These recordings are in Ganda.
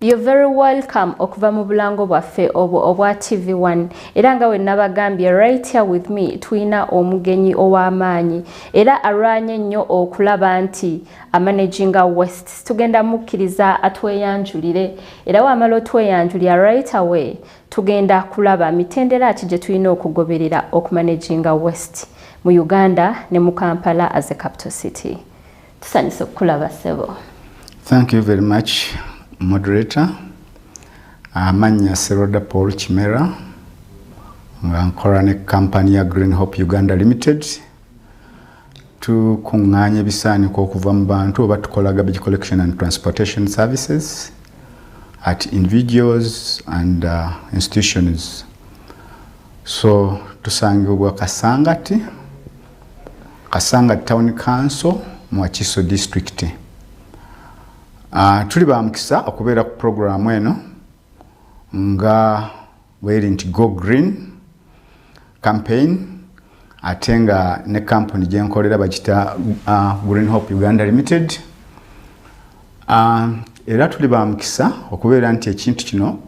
You're very welcome okuva mu bulango bwaffe obwo obwa TV1 era nga wenabagambye right here with me tulina omugenyi ow'amaanyi era alwanye nnyo okulaba nti amanaginga west tugenda mukkiriza atweyanjulire era wamala otweyanjulira right away tugenda kulaba mitendera ki gye tulina okugoberera okumanaginga west mu uganda ne mu kampala as a capital city tusanyuse okukulaba ssebo thank you very much moderator amannya seroda paul kimera nga nkola ne kampani ya green hope uganda limited tukuŋŋaanya ebisaaniko okuva mu bantu oba tukola garbage collection and transportation services at individuals and uh, institutions so tusangibwa kasangati kasanga town council mu akiso district uh, tuli bamukisa okubeera ku programu eno nga bweri nti go green campaign ate nga ne kampuni gyenkolera bakita uh, green hope uganda limited uh, era tuli bamukisa okubeera nti ekintu kino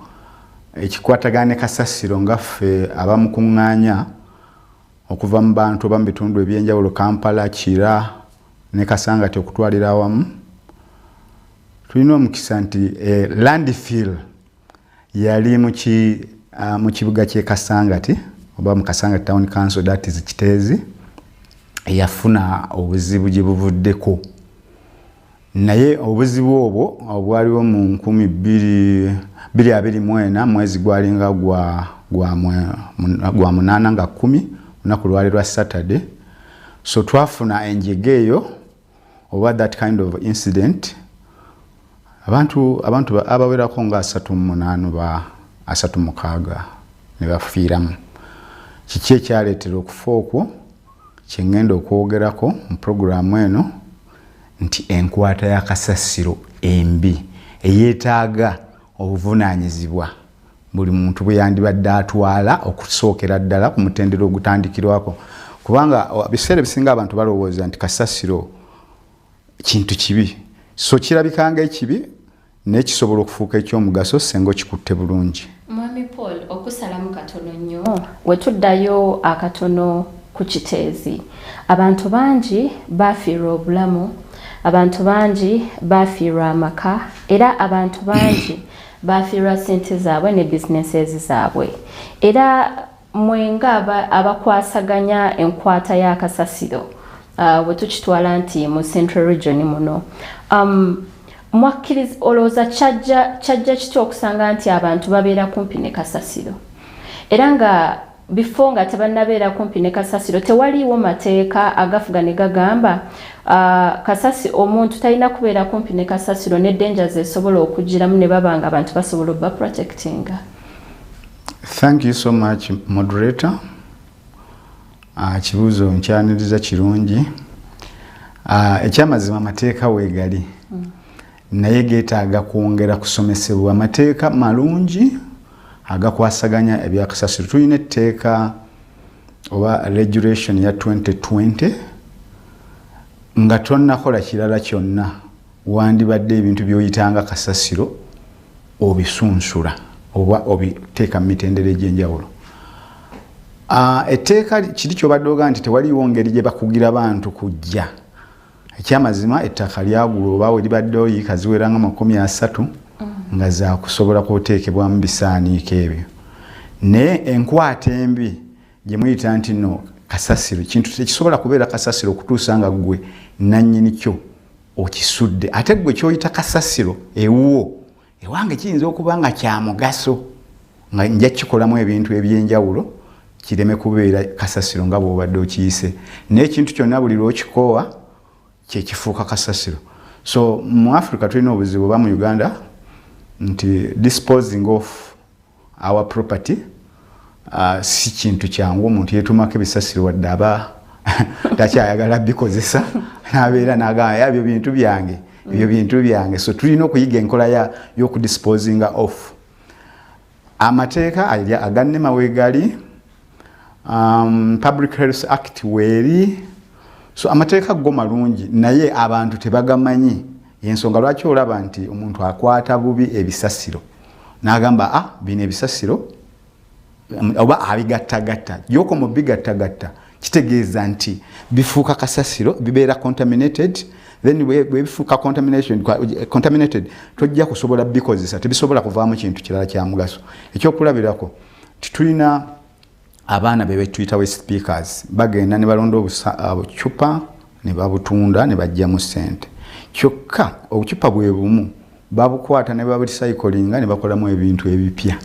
ekikwatagana ne kasasiro nga ffe abamukuŋŋaanya okuva mu bantu oba mu bitundu ebyenjawulo kampala kira ne kasangati okutwalira awamu tulina omukisa nti eh, landfill yali mu ah, kibuga ky'e kasangati oba mu kasangati town council that is kiteezi eyafuna obuzibu gye buvuddeko naye obuzibu obwo obwaliwo mu nkumi biri abiri mwena mwezi gwalinga gwa munaana nga kumi lunaku lwali lwa saturday so twafuna enjega eyo oba that kind of incident abantu abantu abawerako nga asatu munaanu ba asatu mukaaga ne bafiiramu kiki ekyaleetera okufa okwo kyengenda okwogerako mu puroguramu eno nti enkwata ya kasasiro embi eyetaaga obuvunaanyizibwa buli muntu bwe yandibadde atwala okusookera ddala ku mutendera ogutandikirwako kubanga biseera ebisinga abantu balowooza nti kasasiro kintu kibi so kirabikanga ekibi naye kisobola okufuuka ekyomugaso senga okikutte bulungi mwami paul okusalamu katono nnyo oh. wetuddayo akatono ku kiteezi abantu bangi bafiirwa obulamu abantu bangi bafiirwa amaka era abantu bangi bafiirwa sente zaabwe ne businesses zaabwe era Mwe nga abakwasaganya enkwata ya kasasiro uh, bwe tukitwala nti mu central region muno um, mwakkiriza olowooza kyajja kitya okusanga nti abantu babeera kumpi ne kasasiro era nga bifo nga tebannabeera kumpi ne kasasiro tewaliiwo mateeka agafuga ne gagamba uh, kasasi omuntu talina kubeera kumpi ne kasasiro ne dangers esobola okugiramu ne baba nga abantu basobola obba protectinga Thank you so much moderator. Ah, kibuzo nkyaniriza kirungi. Ah, ekyamazima amateeka weegali. Mm. Naye geetaaga kwongera kusomesebwa amateeka malungi agakwasaganya ebyakasasiro. Tulina etteeka oba regulation ya 2020 nga tonnakola kirala kyonna wandibadde ebintu byoyitanga kasasiro obisunsula oba obiteeka mu mitendera egyenjawulo ah, etteeka kiri kyobadde oga nti tewaliwo ngeri gye bakugira bantu kujja ekyamazima ettaka lyagula oba weribadde oyiika ziwera nga makumi asatu mm. nga zakusobola kuteekebwamu bisaaniiko ebyo naye enkwata embi gyemuyita nti no kasasiro kintu tekisobola kubeera kasasiro okutuusa nga gwe nanyini kyo okisudde ate gwe kyoyita kasasiro ewuwo ewange kiyinza okuba nga kyamugaso nga nja kukikolamu ebintu ebyenjawulo kireme kubeera kasasiro nga bwobadde okiyise naye ekintu kyonna buli lwokikoowa kyekifuuka kasasiro so mu africa tulina obuzibu oba mu uganda nti disposing of our property uh, si kintu kyangu omuntu yetumako ebisasiro wadde aba takyayagala bikozesa nabeera nagamba yabyo bintu byange ebyo bintu byange so tulina okuyiga enkola yokudisposinga off amateeka aganema wegali um, public health act weeri so amateeka go malungi naye abantu tebagamanyi yensonga lwaki olaba nti omuntu akwata bubi ebisasiro nagamba a ah, bino ebisasiro um, oba abigattagatta yoko mu bigattagatta kitegeeza nti bifuuka kasasiro bibeera contaminated then bwebifuuka contaminated tojja kusobola bikozesa tebisobola kuvaamu kintu kirala kyamugaso ekyokulabirako titulina abaana bebetuyita we speakers bagenda ne balonda obucupa uh, ne babutunda ne bajjamu sente kyokka obucupa bwe bumu babukwata ne baburisayikolinga ne bakolamu ebintu ebipya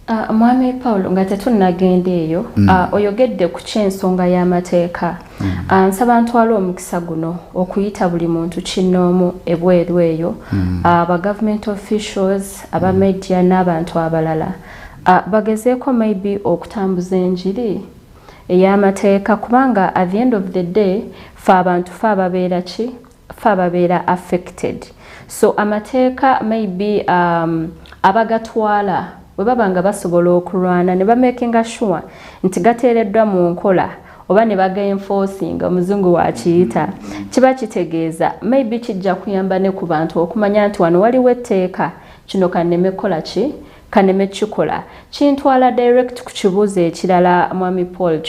uh, mwami paul nga tetunnagenda eyo mm. uh, oyogedde ku kyensonga y'amateeka Mm. Ah, nsaba ntwala omukisa guno okuyita buli muntu kinnoomu ebweru eyo mm. ah, aba government officials aba mm. media n'abantu abalala ah, bagezeeko maybe okutambuza enjiri ey'amateeka kubanga at the end of the day fe abantu fe ababeera ki fe ababeera affected so amateeka maybe um, abagatwala bwe baba nga basobola okulwana ne bamakinga sure nti gateereddwa mu nkola oba ne bagaenforcinga omuzungu wakiyita kiba kitegeeza maybe kijja kuyamba ne ku bantu okumanya nti wano waliwo etteeka kino kanneme kukola ki kaneme kikola kintwala direct ku kibuuzo ekirala mwami paul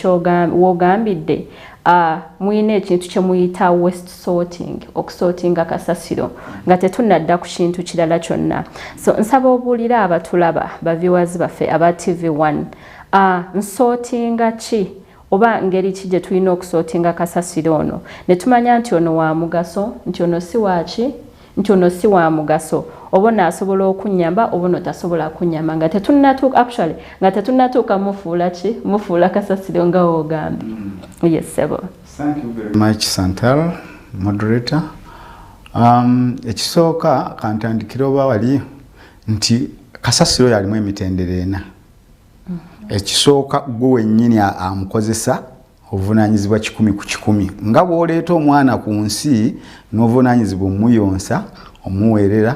wogambidde uh, muyina ekintu kyemuyita west sorting okusortinga kasasiro nga tetunadda ku kintu kirala kyonna so nsaba obuulire abatulaba baviwazi baffe aba tv 1 uh, nsortinga ki oba ngeri ki gye tulina okusortinga kasasiro ono ne tumanya nti ono wa mugaso nti ono si waaki nti ono si wa mugaso oba ono asobola okunyamba oba ono tasobola kunyamba nga tetunatuuka actually nga tetunatuuka mufuula ki mufuula kasasiro nga wogambye mm. yes sebo thank you very much santal moderator um, ekisooka kantandikire oba wali nti kasasiro yalimu emitendera ena mm-hmm. ekisooka gwe wennyini amukozesa obuvunaanyizibwa kikumi ku kikumi nga bw'oleeta omwana ku nsi n'obuvunaanyizibwa omuyonsa omuweerera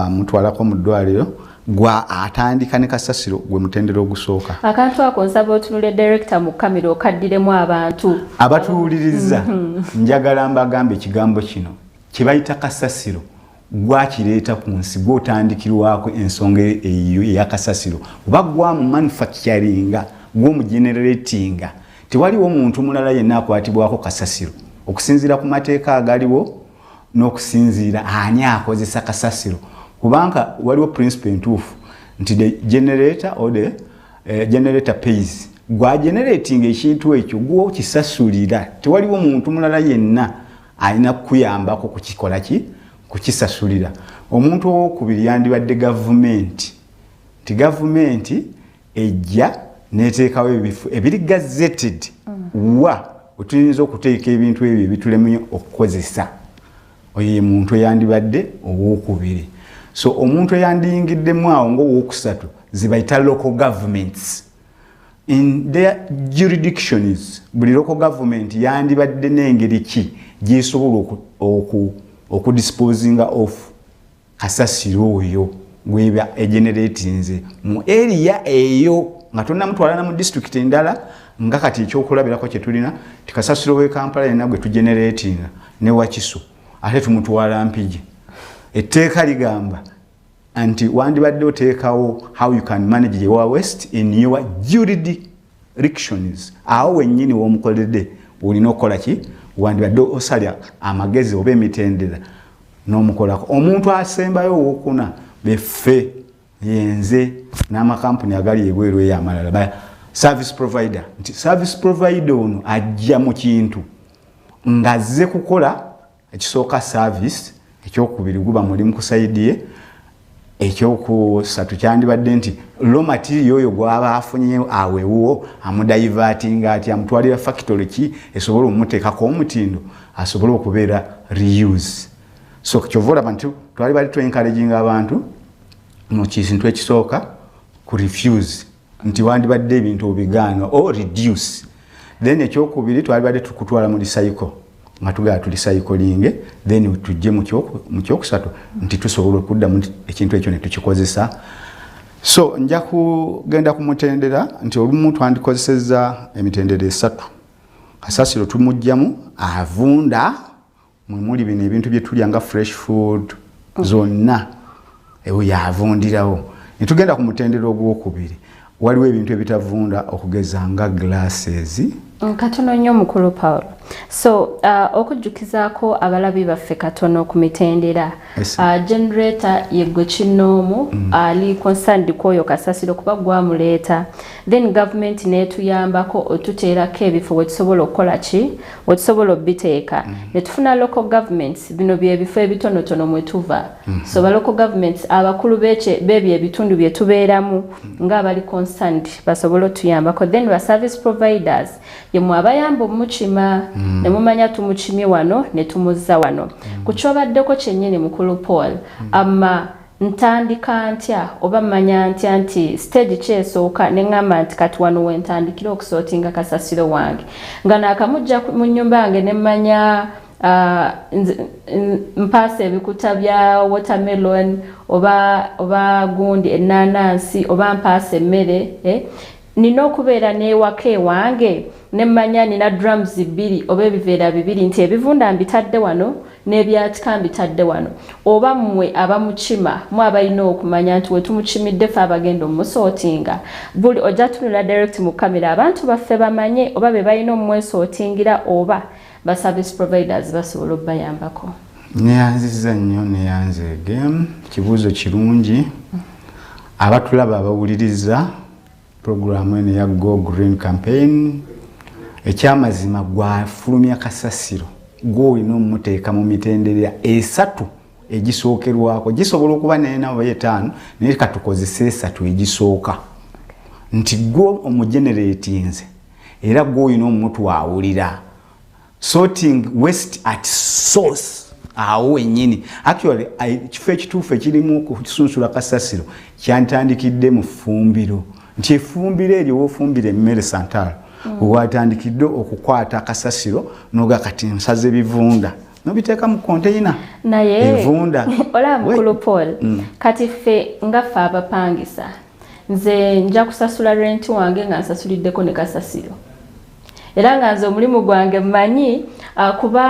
omutwalako mu ddwaliro gwa atandika ne kasasiro gwe mutendera ogusooka akantu ako nsaba otunule direkita mu kamera okaddiremu abantu abatuwuliriza mhm. njagala mbagambe ekigambo kino kye bayita kasasiro gwakireeta ku nsi gwotandikirwako ensonga eyo eyakasasiro oba gwamu manufacturinga gwomugeneratinga tewaliwo muntu mulala yenna akwatibwako kasasiro okusinziira ku mateeka agaliwo n'okusinziira ani akozesa kasasiro kubanga waliwo principle entuufu nti the generator or the uh, generator pays gwageneratinga ekintu ekyo gwokisasulira tewaliwo muntu mulala yenna alina kukuyambako kukikola ki kukisasulira omuntu owokubiri yandibadde gavumenti nti gavumenti ejja neteekawo ebifo ebiri gazeted mm. wa wetuyinza okuteeka ebintu ebyo ebitulemye okukozesa oyo ye muntu eyandibadde owokubiri so omuntu eyandiyingiddemu awo ngaowokusatu zibayita local governments in their juridictions buli loko government yandibadde n'engeri ki gyesobola okudisposinga of kasasiro oyo gweba egeneratinze mu eriya eyo nga tonamutwalana mu district endala nga kati ekyokulabirako kyetulina tikasasiro wekampala yena gwe tugeneratinga newakiso ate tumutwala mpigi etteeka ligamba anti wandibadde oteekawo how you can manage the wa west in your juridictions awo wennyini womukoledde olina okukola ki wandibadde osalya amagezi oba emitendera n'omukolako omuntu asembayo owokuna beffe yenze n'amakampuni agali ebweru eyo amalala ba service provider nti service provider ono ajja mu kintu ng'azze kukola ekisooka service ekyokubiri guba mulimu kusaidie ekyokusatu kyandibadde nti lo matirio oyo gwaba afunye awewuwo amudayivatinga ati amutwalira fakitole ki esobola omuteekako omutindo asobole okubeera reuse so kyova olaba nti twali bali twenkalejinga abantu mu kintu ekisooka ku refuse nti wandibadde ebintu obigaana o reduce then ekyokubiri twalibadde tukutwala mu lisayiko nga tugala tulisayikolinge then tujje mu kyokusatu nti tusobola okuddamu ekintu ekyo netukikozesa so nja kugenda ku mutendera nti olumu twandikozeseza emitendera esatu kasasiro tumugjamu avunda mwe muli bino ebintu bye tulya nga fresh food oh. zonna ewo yavundirawo ne tugenda ku mutendera ogwokubiri waliwo ebintu ebitavunda okugeza nga glasses mm, katono nnyo mukulu paul so uh, okujjukizaako abalabi baffe katono ku mitendera uh, generator yegwe kinnoomu mm. ali uh, concerned kwoyo kasasiro kuba gwamuleeta then gavumenti netuyambako otuteerako ebifo wetusobola okukola ki wetusobola obiteeka mm. netufuna local governments bino byebifo ebitonotono mwetuva mm. so ba local governments abakulu beche bebyo ebitundu byetubeeramu mm. nga abali concerned basobola otuyambako then ba service providers yemwe abayamba omukima mm. nemumanya tumukimye wano netumuzza wano mm. kukyobaddeko kyennyini mukulu paul mm. ama ntandika ntya oba manya ntya nti stage ki esooka ne ŋŋamba nti kati wano we ntandikira okusootinga kasasiro wange nga naakamujja mu nnyumba yange ne mmanya uh, mpaasa ebikuta bya watermelon oba, oba gundi ennaanansi oba mpaasa emmere eh? nina okubeera n'ewaka ewange ne mmanya nina drums bbiri oba ebiveera bibiri nti ebivunda mbitadde wano n'ebyakika mbitadde wano oba mmwe abamukima mu abalina okumanya nti wetumukimidde fe abagenda omusootinga buli ojja tunula direct mu kamera abantu baffe bamanye oba be balina omumwesootingira oba ba service providers basobola obayambako neyanziza nnyo neyanzeege kibuuzo kirungi abatulaba abawuliriza pulogulaamu eno eya go green campaign ekyamazima gwafulumya kasasiro gwolina omumuteeka mu mitenderera esatu egisookerwako gisobola okuba naye nabo etaano naye katukozesa esatu egisooka nti gwo omugeneretinze era gwolina omutu awulira sorting waste at source awo wenyini actually kifo ekituufu ekirimu okusunsula kasasiro kyantandikidde mu ffumbiro nti efumbiro eryo wofumbira emmere santal mm. watandikidde okukwata kasasiro noga kati nsaze bivunda nobiteeka mu konteyina naye evunda olaba mukulu paul mm. kati ffe nga ffe abapangisa nze nja kusasula renti wange nga nsasuliddeko ne kasasiro era nga nze omulimu gwange mmanyi ah, kuba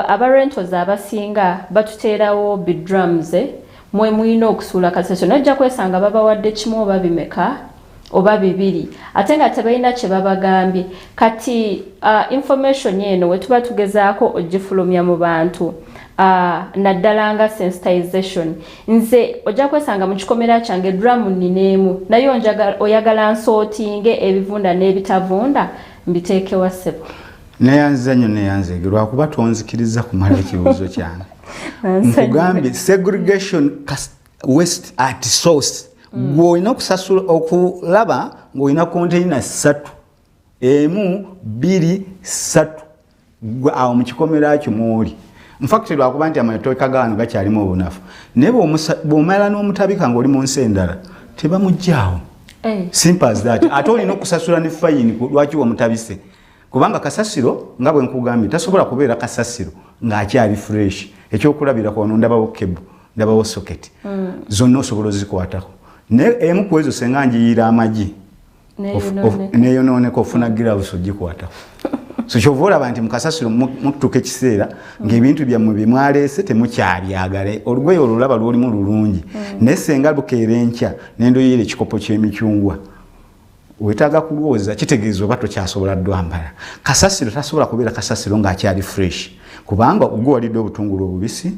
abarentos abasinga batuteerawo bidrums eh, mwe mulina okusuula kasasiro nojja kwesanga babawadde kimu oba bimeka oba bibiri ate nga tebalina kye babagambye kati uh, information eno we tuba tugezaako ogifulumya mu bantu uh, naddala nga sensitization nze ojja kwesanga mu kikomera kyange duramu nnineemu naye oyagala nsootinge ebivunda n'ebitavunda mbiteekewa ssebo neyanziza nnyo neyanzege lwakuba tonzikiriza kumala ekibuuzo kyange nkugambye segregation west at source mm. gweolina okusasula okulaba ng'olina konteyina ssatu emu bbiri ssatu gwe awo mu kikomera kyo mwoli mufakiti lwakuba nti amatooka gaano gakyalimu obunafu naye bwomala n'omutabika ngaoli mu nsi endala tebamugyawo eh. simples that ate olina okusasula ne fayini lwaki wamutabise kubanga kasasiro nga bwe nkugambye tasobola kubeera kasasiro ng'akyali fresh ekyokulabira kwano ndabawo kebu ndabawo soketi mm. zonna osobola ozikwatako naye emu ku ezo senga njiyiira amagi neyonooneka ofuna gilavusi ogikwatako so kyova olaba nti mukasasiro mututuka ekiseera ngaebintu byammwe byemwaleese temukyabyagale olugoye olulaba lwolimu lulungi mm. naye senga lukeera enkya nendoyera ekikopo kyemicungwa wetaaga kulwooza kitegeeza oba tokyasobola dwambala kasasiro tasobola kubeera kasasiro ngaakyali fresh kubanga ogwewalidde obutungulu obubisi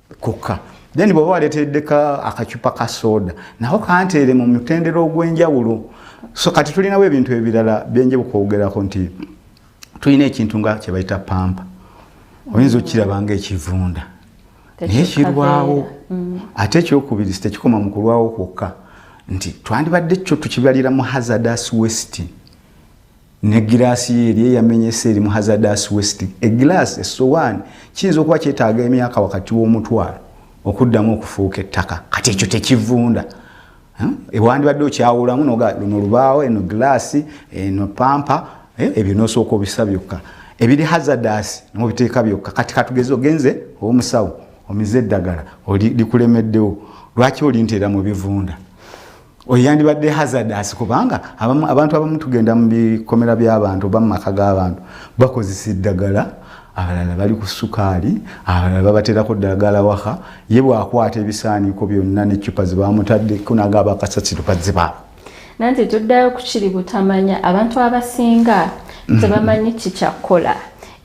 kokka then bw'oba waleetereddeko akacupa ka sooda nako kanteere mu mutendera ogw'enjawulo so kati tulinawo ebintu ebirala byenje bukwogerako nti tulina ekintu nga kye bayita pampa oyinza okukiraba nga ekivunda naye kirwawo mm. ate ekyokubiri sitekikoma mu kulwawo kwokka nti twandibadde kyo tukibalira mu hazardous west ne giraasi ye eri eyamenyese eri mu hazadas west egiraasi esowaani kiyinza okuba kyetaaga emyaka wakati w'omutwalo okuddamu okufuuka ettaka kati ekyo tekivunda hmm? ewandibadde okyawulamu luno lubaawo eno giraasi eno pampa eh, ebyo nosooka obisa byokka ebiri hazadas nobiteeka byokka kati katugeze ogenze owomusawo omize eddagala likulemeddewo lwaki olinteera mu bivunda oyo yandibadde hazardous kubanga abamu, abantu abamu tugenda mu bikomera by'abantu oba mu maka g'abantu bakozesa eddagala abalala bali ku sukaali abalala babaterako ddagala waka ye bwakwata ebisaaniiko byonna neccupa zebamutaddeko naga abakasasiro bazibaako nanti tuddayo kukiri butamanya abantu abasinga mhm. tebamanyi kikyakukola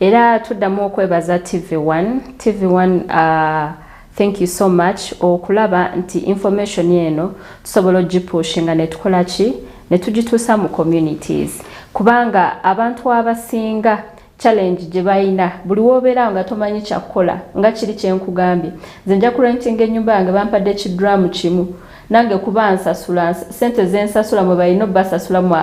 era tuddamu okwebaza tv1 tv1 uh, Thank you so much okulaba nti information eno tusobola ogipushinga netukola ki netugituusa mu communities kubanga abantu abasinga challenge gye balina buli woobeera nga tomanyi kyakukola nga kiri kyenkugambye nze nja kurentinga ennyumba yange bampadde kidramu kimu nange kuba nsasula sente zensasula mwe balina obasasula mu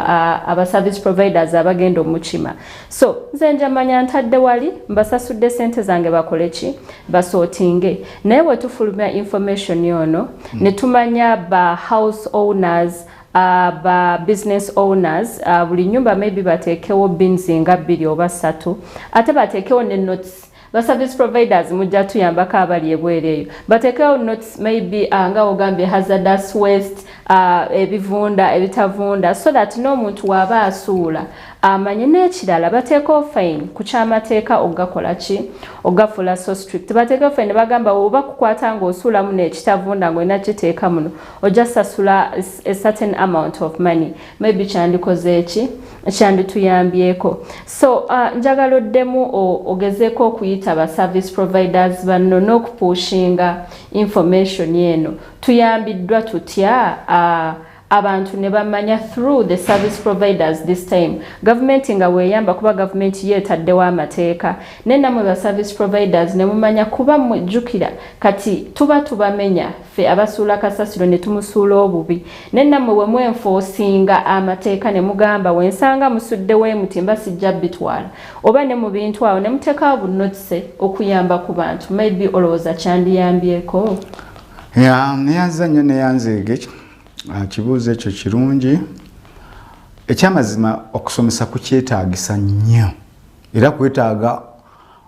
aba service providers abagenda omukima so nze njamanya ntadde wali mbasasudde sente zange bakole ki basootinge naye bwe tufulumya information yono hmm. ne tumanya ba house owners Uh, ba business owners uh, buli nyumba maybe bateekewo bins nga bbiri oba ssatu ate bateekewo ne notes ba service providers mujja tuyambako abali ebweru eyo batekewo notes maybe uh, nga ogambye hazardous waste uh, ebivunda ebitavunda so that n'omuntu waaba asuula amanye uh, n'ekirala bateekawo fine ku kyamateeka okugakola ki okugafuula so strict bateekawo fine bagamba oba kukwata ng'osuulamu n'ekitavunda ng'olina kiteeka muno ojja sasula a certain amount of money maybe kyandikoze ki kyandituyambyeko so uh, njagala oddemu ogezeeko okuyita ba service providers banno n'okupushinga information eno tuyambiddwa tutya uh, abantu ne bamanya through the service providers this time gavumenti nga weeyamba kuba gavumenti yo etaddewo amateeka naye namwe ba service providers ne mumanya kuba mujjukira kati tuba tubamenya ffe abasuula kasasiro ne tumusuula obubi ne nammwe bwe mwenfoosinga amateeka ne mugamba we nsanga musudde we muti mba sijja bitwala oba ne mu bintu awo ne muteekawo bunotise okuyamba ku bantu maybe olowooza kyandiyambyeko neyanza nnyo neyanzeege ah, kibuuzo ekyo kirungi ekyamazima okusomesa kukyetaagisa nnyo era kwetaaga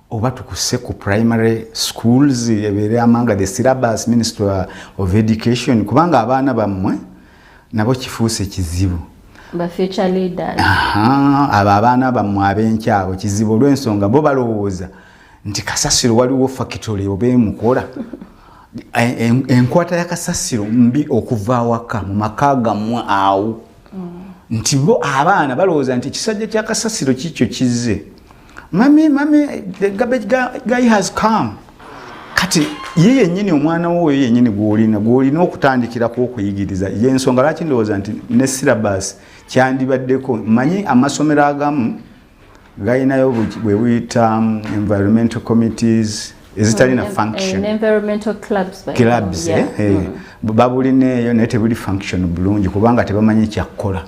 oba tukuse ku primary schools ebeere amanga the syllabus ministry of education kubanga abaana bammwe nabo kifuuse kizibu abo abaana bammwe abenkya abo kizibu olw'ensonga bo balowooza nti kasasiro waliwo fakitole oba emukola enkwata ya kasasiro mbi okuva awaka mu maka gammwe awo mm. nti bo abaana balowooza nti ekisajja kya kasasiro kikyo kizze mami mami the garbage guy, guy has come kati ye yennyini omwana wo oyo yennyini gwolina gwolina okutandikirako okuyigiriza yensonga lwaki ndowooza nti ne syllabus kyandibaddeko manyi amasomero agamu galinayo bwe buyita um, environmental committees ezitalina oh, functionclubs eh, eh, mm. babulina eyo naye tebuli function bulungi kubanga tebamanyi kyakukola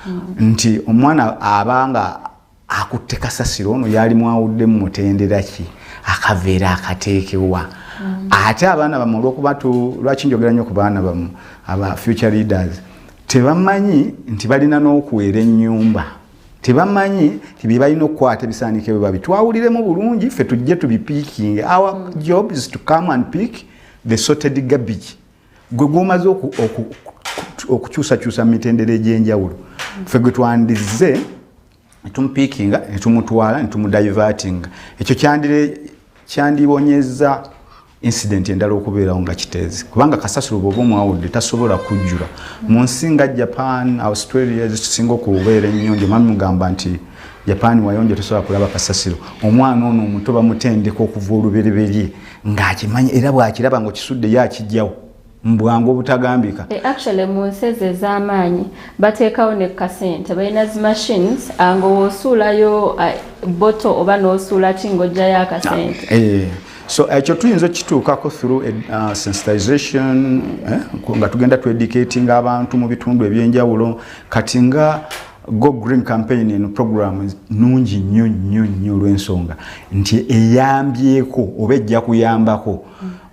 mm. nti omwana abanga akutte kasasiro ono yali mwawudde mu mutendera ki akaveera akateekewa mm. ate abaana bamu olwokuba lwaki njogera nnyo ku baana bamu aba future leaders tebamanyi nti balina n'okuweera ennyumba tebamanyi nti bye balina okukwata ebisaanike bwe babi twawuliremu bulungi ffe tujje tubipiikinge our mm. job is to come and pick the sorted garbage gwe gwomaze okukyusakyusa mu mitendera egy'enjawulo fe gwe twandizze netumupiikinga netumutwala netumudivertinga ekyo kyandibonyeza incident endala okubeerawo nga kiteezi kubanga kasasiro bwoba omwawudde tasobola kujjula mu nsi nga japan australia zikisinga okubeera ennyonjo mami mugamba nti japan wayonjo tosobola kulaba kasasiro omwana ono omuto bamutendeka okuva olubereberye ng'akimanyi era bw'akiraba ng'okisudde ye akijjawo mbwangu obutagambika eh, actually mu nsi ezo ez'amaanyi bateekawo ne kasente balina zi machines ah, nga wosuulayo ah, boto oba n'osuula ki ng'ojjayo akasente ah, eh, so ekyo eh, tuyinza okukituukako through uh, sensitization eh, nga tugenda tuedicatinga abantu mu bitundu eby'enjawulo kati nga Go Green Campaign eno program nungi nnyo nnyo nnyo olw'ensonga nti eyambyeko oba ejja kuyambako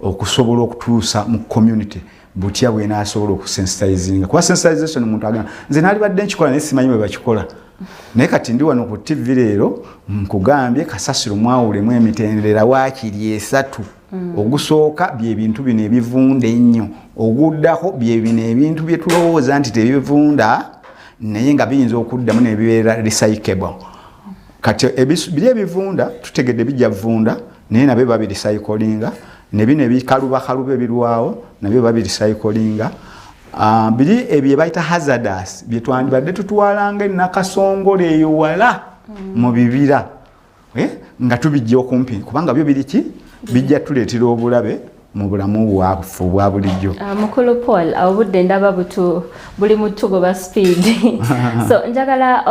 okusobola okutuusa mu community butya bwenaasobola okusensitizinga kuba sensitization omuntu agamba nze naalibadde nkikola naye simanyi bwe bakikola naye kati ndi wano ku ttivi leero nkugambye kasasiro mwawulemu emitendera waakiri esatu Mm. ogusooka byebintu bino ebivunda ennyo oguddako byebino ebintu byetulowooza nti tebivunda naye nga biyinza okuddamu nebibeera recycable kati biri ebivunda tutegedde bijja vunda naye nabyo babiricycolinga nebino ebikalubakaluba ebirwawo nabyo babiricycolinga ah, biri ebyo ebayita hazardas byetwandibadde tutwalanga enakasongole eyo wala mm. mu bibira eh, nga tubijja okumpi kubanga byo biri ki bijja tuleetera obulabe mu bulamu bwaffe obwa bulijjo ah, mukulu paul obudde ndaba butu buli mutugoba speed so njagala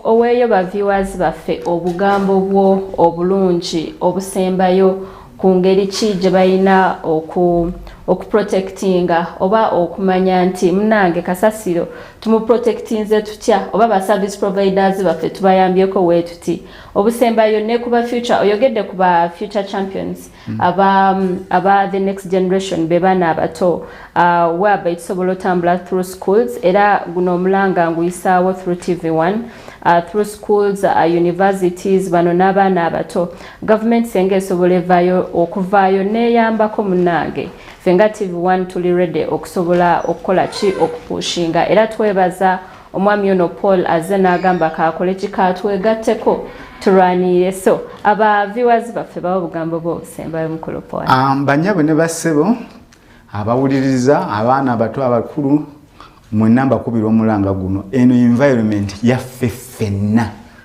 oweeyo ba viewers baffe obugambo bwo obulungi obusembayo ku ngeri ki gye balina okuprotectinga oba okumanya nti munange kasasiro tumuprotectinze tutya oba ba service providers baffe tubayambyeko weetuti obusembayo ne kuba future oyogedde ku ba future champions mm. aba, aba the next generation be baana abato uh, waba ekisobola otambula through schools era guno omulanga nguyisaawo through tv 1 uh, through schools uh, universities bano n'abaana abato Gavumenti senga esobola evaayo okuvaayo neyambako munange fenga TV one tuli ready okusobola okukola ki okupushinga era twebaza omwami ono Paul azze n'agamba kaakole kika twegatteko tulwanirire so aba viewers baffe bawa obugambo bwo obusembayo mukulu Paul. Um, banyabwe ne bassebo abawuliriza abaana abato abakulu mwenna mbakubira omulanga guno eno environment yaffe ffenna.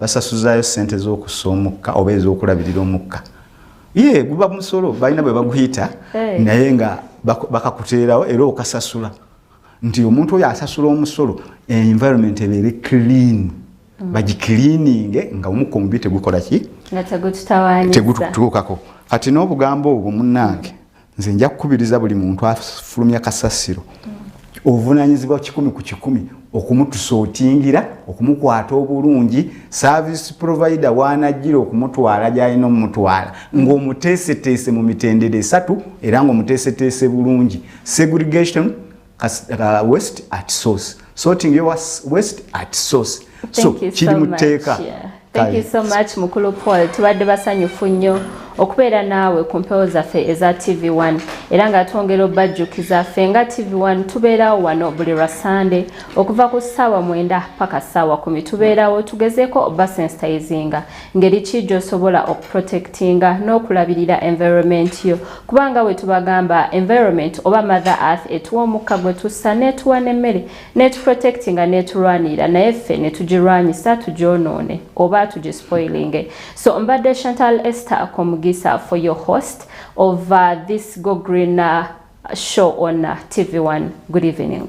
basasuzaayo sente zokussa omukka oba ezokulabirira omukka ye guba musolo balina bwe baguyita hey. Eh. naye nga bakakuteerawo era okasasula nti omuntu oyo asasula omusolo environment ebeere clean mm. bagikiliininge nga omukka omubi tegukola ki tegututuukako kati n'obugambo obwo munnange nze nja kukubiriza buli muntu afulumya kasasiro obuvunanyizibwa kikumi ku kikumi okumutusa otingira okumukwata obulungi service provider wanajjira okumutwala gyalina omumutwala ngaomuteeseteese mu mitendera esatu era ngaomuteeseteese bulungi segregation kasitaka west at source sorting your west at source so kiri mu tteeka thank you so much mukulu paul tubadde basanyufu nnyo okubeera naawe ku mpewo zaffe eza tv1 era nga twongera obajjukiza ffe nga tv1 tubeerawo wano buli lwa sande okuva ku ssaawa mwenda paka ssaawa kumi tubeerawo tugezeeko obasensitizinga ngeri ki gy'osobola okuprotectinga n'okulabirira environment yo kubanga bwe tubagamba environment oba mother earth etuwa omukka gwe tussa n'etuwa n'emmere n'etuprotectinga n'etulwanirira naye ffe ne tugirwanyisa tugyonoone oba tugispoilinge so mbadde chantal ester komugisa for your host of uh, this go green uh, show on uh, tv 1 good evening